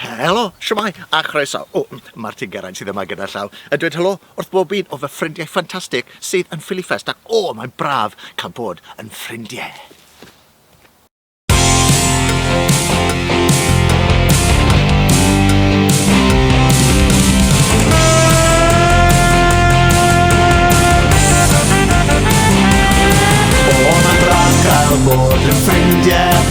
Helo, siwmai, a chroeso. O, mae'r tyn Geraint sydd yma gyda llaw yn dweud helo wrth bob un o fy ffrindiau ffantastig sydd yn Ffilifest ac o, mae'n braf cael bod yn ffrindiau. O, mae'n braf cael bod yn ffrindiau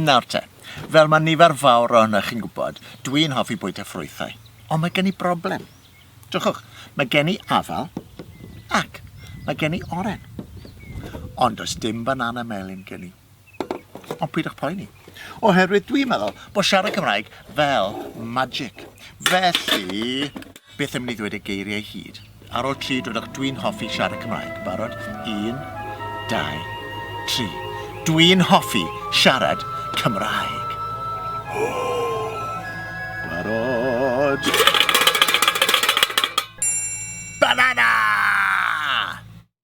Nawr te, fel mae nifer fawr ohonoch chi'n gwybod, dwi'n hoffi bwyta ffrwythau. Ond mae gen i broblem. Dwchwch, mae gen i afal ac mae gen i oren. Ond does dim banana melyn gen i. Ond pwydwch poeni. Oherwydd dwi'n meddwl bod siarad Cymraeg fel magic. Felly... Byth yn mynd i ddweud y geiriau hyd. Ar ol tri dwedwch Dwi'n hoffi siarad Cymraeg. Barod? Un, dau, tri. Dwi'n hoffi siarad Cymraeg. Barod? Banana!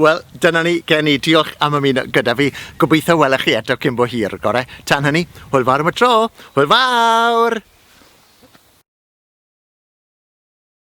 Wel, dyna ni, gen i. Diolch am ymuno gyda fi. Gobeithio welech chi eto cyn bo hir, gore. Tan hynny, hwyl fawr am y tro. Hwyl fawr!